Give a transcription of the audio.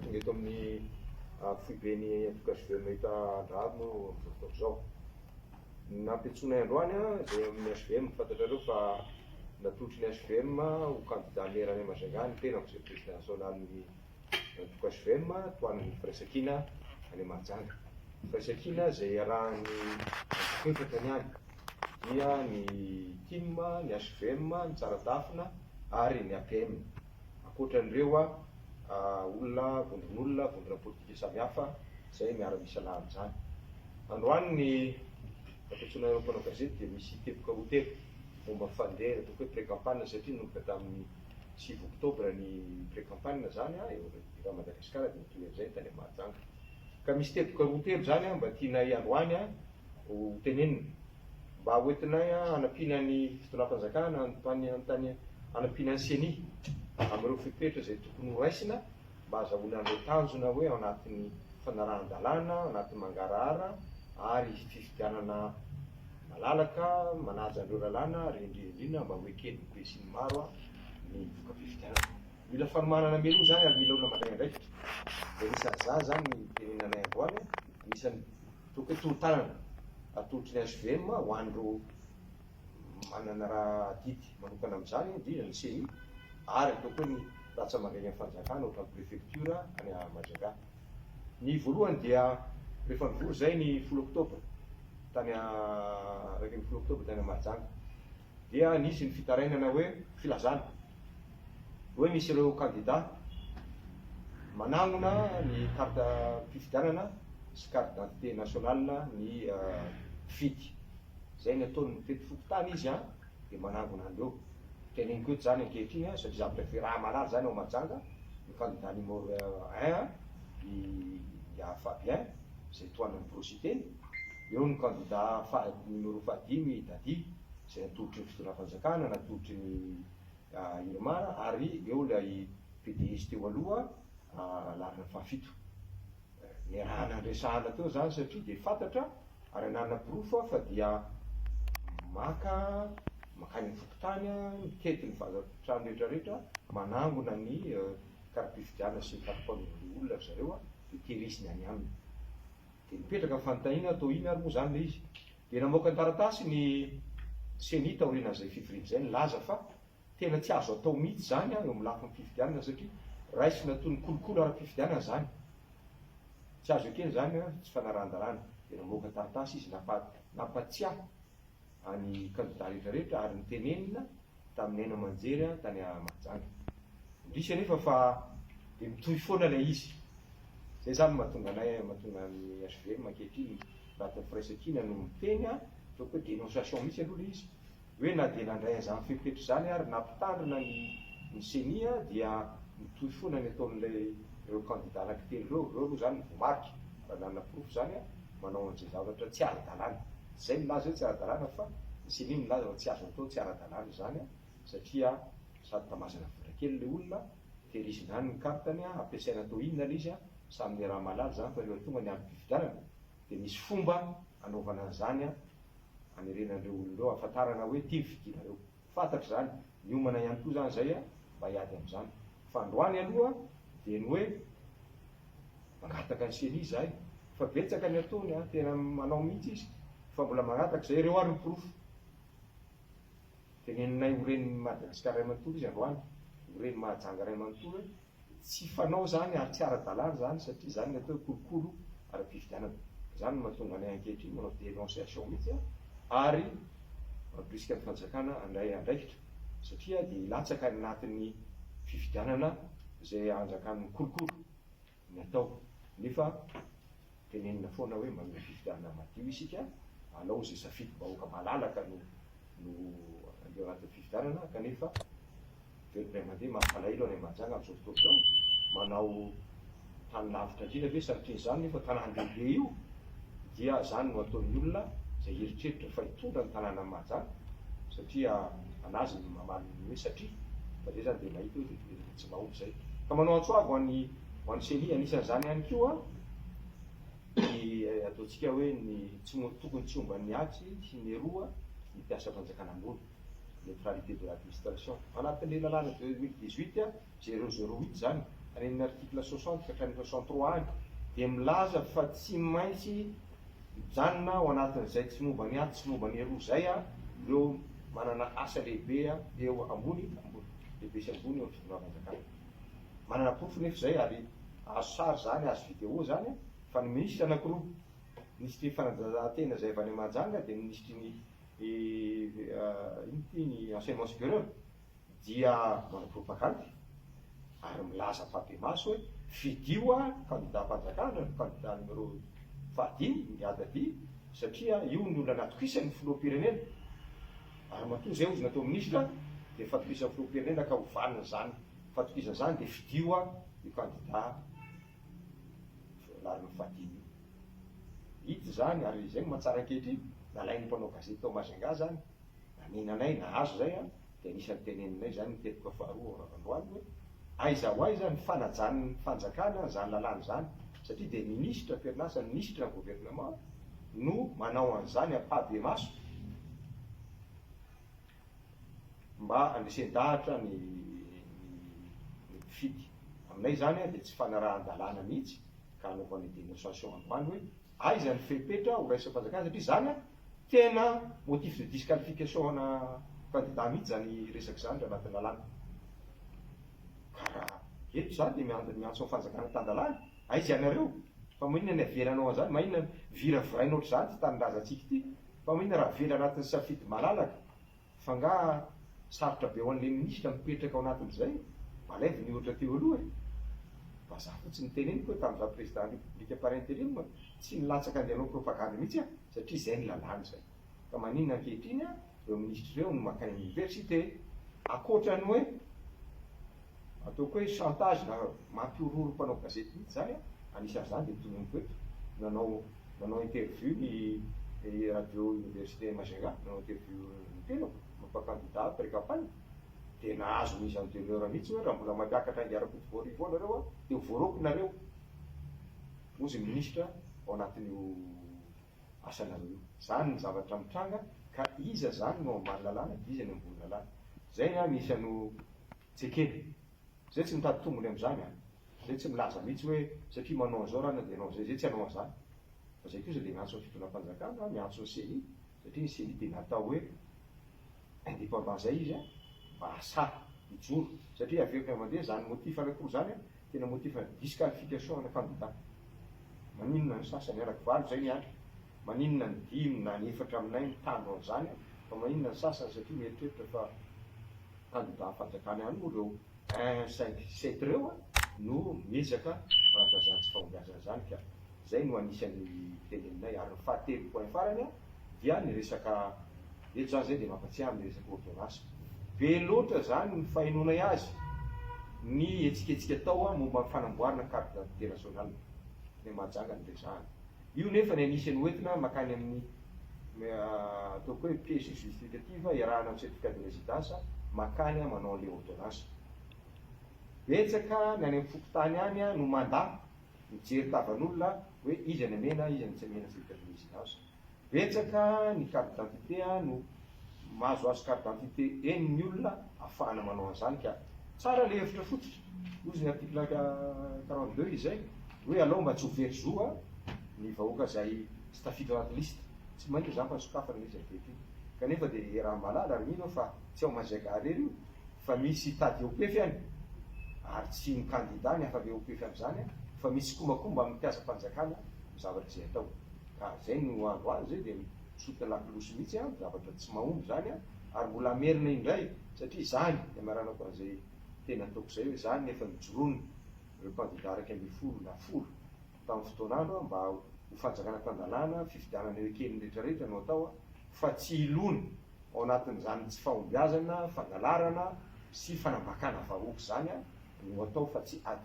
Tonga eto amin'ny foiben'ny antoko HVM Mahita Andraharo moa amin'izao fotoana izao. Nampiantsoinay androany izay amin'ny HVM, fantatrareo fa natolotry ny HVM ho kandida mera any Majunga ny tenako izay prezida nasionalin'ny. Manomboka HVM, tohanan'ny firaisankina any Mahajanga. Firaisankina izay iarahan'ny antokonefatra ny any, dia ny Tim, ny HVM, ny Tsaradafina ary ny APM. Ankoatra an'ireo, olona, vondron'olona, vondrona politika samihafa izay miara-misalahy amin'izany. Androany ny fampitsoana ireo mpanao gazety dia misy teboka roa telo momba ny fandeha, ataoko hoe pré-campagne satria nanomboka tamin'ny. sivy oktobra ny pre-campagne zany an, eo amin'ny Viva Madagascar dia mitohy an'izay ny tany amin'ny Mahajanga. Ka misy teboka roa telo zany an mba tianay androany an ho tenenina, mba ho entinay an hanampiana ny Fitondram-panjakana, hanampiana ny ceni amin'ireo fepetra izay tokony ho raisina mba hazahoana an'ireo tanjona hoe ao anatin'ny fanarahan-dalàna, ao anatin'ny mangarahara ary fifidianana. Malalaka manaja an'ireo lalàna ary indrindrindrindra mba ho eken'ny besin'ny maro ny voka-pifidianana. Mila fanomanana mialoha izany ary mila olona mandray andraikitra. Dia anisan'ny za izany ny tenenanay androany, anisan'ny tokony hoe tolo-tanana atolotry ny HVM ho an'ireo manana raha adidy manokana amin'izany, indrindra ny ceni ary ataoko hoe ny rantsamandreny amin'ny fanjakana ohatran'ny prefektiora any Majunga. Ny voalohany dia rehefa nivory izay ny folo oktobra tany iraika ambin'ny folo oktobra tany Mahajanga dia nisy ny fitarainana hoe filazana hoe misy ireo kandida manangona ny kartam-pifidianana sy carte d'identité nationale ny mpifidy. Izay ny ataony mitety fokontany izy an! dia manangona an'ireo. Teneniko eto izany ankehitriny an, satria zavatra efa iraha malala izany ao Mahajanga, ny kandida numéro un an, i Miahy Fabien, izay tohanan'i Borosy teny, eo ny kandida faha numéro fahadimy i Dadi, izay natolotry ny fitondram-panjakana, natolotry ny Irmar, ary eo ilay PDS teo aloha, Ralarina fahafito. Niaraha nandresahana teo izany satria dia fantatra ary nanaporofo aho fa dia maka mankany amin'ny fokontany, mitety ny vazan-trano rehetrarehetra, manangona ny kara-pifidianana sy ny kara-panondro olona ry zareo dia tehiriziny any aminy. Dia nipetraka ny fanontaniana, toa inona ary moa izany ilay izy? Dia namoaka ny taratasy ny ceni taorianan'izay fivoriana izay nilaza fa Tena tsy azo atao mihitsy izany eo amin'ny lafiny fifidianana satria raisina toy ny kolikoly ara-pifidianana izany. Tsy azo ekena izany ary tsy fanarahan-dalàna. Dia namoaka taratasy izy nampatsiahy an'ny kandidà rehetra rehetra ary nitenenina tamin'ny haino aman-jery tany Mahajanga. Indrisy anefa fa dia mitohy foana ilay izy. Izay izany no mahatonga anay, mahatonga ny HVM ankehitriny, anatin'ny firaisankina no miteny fa hoe dénonciation mihitsy aloha ilay izy. hoe na dia nandray an'izany fepetra izany ary nampitandrina ny ny ceni dia mitohy foana ny ataon'ilay ireo kandida anankitelo ireo, ireo aloha izany ny voamarika raha nanana porofo izany, manao an'izay zavatra tsy ara-dalàna. Izay milaza hoe tsy ara-dalàna fa ny ceni milaza fa tsy azo atao tsy ara-dalàna izany satria sady tamazana vola kely ilay olona, tehirizina any ny carte-ny, ampiasaina atao inona ilay izy, samy ny raha mahalala izany fa ireo tonga ny androm-pifidianana Dia misy fomba anaovana an'izany an, anerena an'ireo olona ireo, ahafantarana hoe ity ny fidianareo. Fantatra izany, miomana ihany koa izany izay mba hiady amin'izany. Fa androany aloha dia ny hoe mangataka ny ceni izahay. Fa betsaka ny ataony an, tena manao mihitsy izy, fa mbola mangataka izay. Ireo ary ny porofo. Teneninay ho ren'i Madagasikara iray manontolo izy androany, ho reny mahajanga iray manontolo hoe Tsy fanao izany ary tsy ara-dalàna izany satria izany no atao hoe kolokolo ara-pifidianana. Izany no mahatonga anay ankehitriny manao dénonciation mihitsy ary mampirisika ny fanjakana handray andraikitra satria dia hilatsaka any anatin'ny fifidianana izay anjakan'ny kolokolo ny atao nefa Tenenina foana hoe manome fifidianana madio isika, alao izay safidim-bahoaka malalaka no no eo anatin'ny fifidianana kanefa ireo ny ray aman-dreny mampalahelo any Mahajanga amin'izao fotoana izao, manao tany lavitra indrindra ve sanatria izany nefa tanàna lehibe io dia izany no ataon'ny olona izay hieritreritra fa hitondra ny tanànan'i Mahajanga satria an'azy ny mamaly ny hoe satria fa izay izany dia mahita hoe dia Mahomby izay. Ka manao antso avo ho an'i ho an'i Célie. Anisan'izany ihany koa ny ataontsika hoe ny tsy mo tokony tsy omban'ny atsy sy ny eroa ny mpiasam-panjakana ambony, neutralité de l'administration. Ao anatin'ilay lalàna deux mille dix huit zéro zéro huit izany, any amin'ny article soixante ka hatramin'ny soixante trois any, dia milaza fa tsy maintsy mijanona ao anatin'izay tsy momba ny atsy sy momba ny eroa izay ireo manana asa lehibe eo ambony ambony. lehibe sy ambony eo amin'ny fitondram-panjakana. Manana porofo nefa izay ary azo sary izany, azo video izany fa ny minisitra anankiroa, minisitry ny fanadanjahantena izay avy any Mahajanga dia ny minisitry ny inona ity ny enseignement supérieur dia manao propagandy ary milaza am-pahibemaso hoe fidio aho kandidam-panjakana, kandida numéro fahadimy, migadra vy satria io no olona natokisany filoham-pirenena. Ary matoa izay ozona atao minisitra dia fatokisan'ny filoham-pirenena ka ho vanona izany fatokisana izany dia fidio a io kandida voalarin'ny fadimy io. Hita izany ary izay no mahatsara ankehitriny, nalain'ny mpanao gazety tao Majunga izany, nanenanay, nahazo izay a, dia anisan'ny teneninay izany ny teboka faharoa ao Rarandroany hoe, Aiza ho aiza ny fanajan'ny fanjakana izany lalàna izany satria dia minisitra am-perinasa ny minisitra ny gouvernement no manao an'izany ampahibemaso mba handresen-dahatra ny ny mpifidy. Aminay izany dia tsy fanarahan-dalàna mihitsy ka anaovana denonciation androany hoe. Aiza ny fepetra ho raisim-panjakana satria izany tena motif de disqualification ana kandida mihitsy izany resaka izany raha anaty lalàna. Ka raha eto izaho dia miandry miantso ny fanjakana tan-dalàna, aiza ianareo? Fa maninona ny avelanao an'izany? Maninona no viraviraina ohatr'izany ity tanindrazantsika ity? Fa maninona raha avela anatin'ny safidy malalaka F'angaha sarotra be ho an'ilay minisitra mipetraka ao anatin'izay? Balève ny ohatra teo aloha e! Vazaha fotsiny ny teneniko hoe tamin'izaho président république par intérim tsy nilatsaka an'ilay hanao propagande mihitsy aho satria izay ny lalàna izay. Ka maninona ankehitriny ireo minisitra ireo no mankany amin'ny université? Ankoatra ny hoe. Ataoko hoe chantage na mampihorohoro mpanao gazety mihitsy izany an, anisan'izany dia tononiko eto, nanao nanao interview ny radio université Majunga, nanao interview ny tenako, momba candidat pre-campagne, dia nahazo mise en demeure mihitsy hoe raha mbola mampiakatra ainga Rakoto Voarivo ao nareo an, dia ho voaroako nareo, hozy ny ministra ao anatin'io asanareo io. Izany ny zavatra mitranga ka iza izany no ambany lalàna dia iza ny ambony lalàna. Izay ny ahy misy an'io. Jekeny, zay tsy mitady tombony amzany a, zay tsy milaza mitsy hoe satria manao anzao rana de anao anzay, zay tsy anao anzany, fa zay kosa de miantso ny fitondram-panjakana na miantso ny ceni, satria ny ceni de natao hoe independant zay izy a, mba asahy hijoro, satria averiko indray mandeha zany motif anakiroa zany a, tena motif ana disqualification ana candidat, maninona ny sasany anaky valo zay miandry, maninona ny dimy na ny efatra aminay mitandro anzany a, fa maninona ny sasany satria mieritreritra fa. kandida fanjakana ihany moa ireo un, cinq, sept ireo no miezaka manaka izany tsy fahombiazana izany ka izay no anisan'ny tendeninay ary ny fahatelo point farany dia ny resaka eto izany izay dia mampatsiahy amin'ny resaka ordonnance be loatra izany ny fahenoanay azy ny hetsiketsika atao momba ny fanamboarana carte d'identité nationale dia mahajanga ny resahana. Io nefa ny anisany hoentina makany amin'ny ataoko hoe pièce justificative iarahana amin'ny certificat de residence makany manao an'ilay ordonnance. Betsaka ny any amin'ny fokontany any no mandà mijery tavan'olona hoe iza ny amena iza ny tsy amena certificat de residence. Betsaka ny carte d'identité no Mahazoazo carte d'identité eny ny olona afahana manao an'izany ka. Tsara le hevitra fototra, hozy ny article quarante deux izay hoe alao mba tsy ho very zo a ny vahoaka izay tsy tafiditra anaty liste. Tsy maina izany fa sokafana le izy avy ety kanefa de raha malala ary mino aho fa tsy ao Maziaga irery io fa misy hitady eo pefy any ary tsy ny kandida ny hafa le eo pefy am'izany a fa misy sikomakomba amin'ny mpiasam-panjakana ny zavatra izay atao ka zay no andro azy de Sous de la cloche mihitsy an, zavatra tsy mahomby izany an, ary mbola hamerina indray satria izany niamaranako an'izay teny ataoko izay hoe izany ny efa nijoroany ireo kandida iraika ambin'ny folo na folo tamin'ny fotoan'andro an, mba ho fanjakana tan-dalàna, fifidianana eo ekelin'ny rehetra rehetra no atao an, fa tsy hilona ao anatin'izany tsy fahombiazana, fangalarana sy fanambakana vahoaka izany an, no atao fa tsy ady.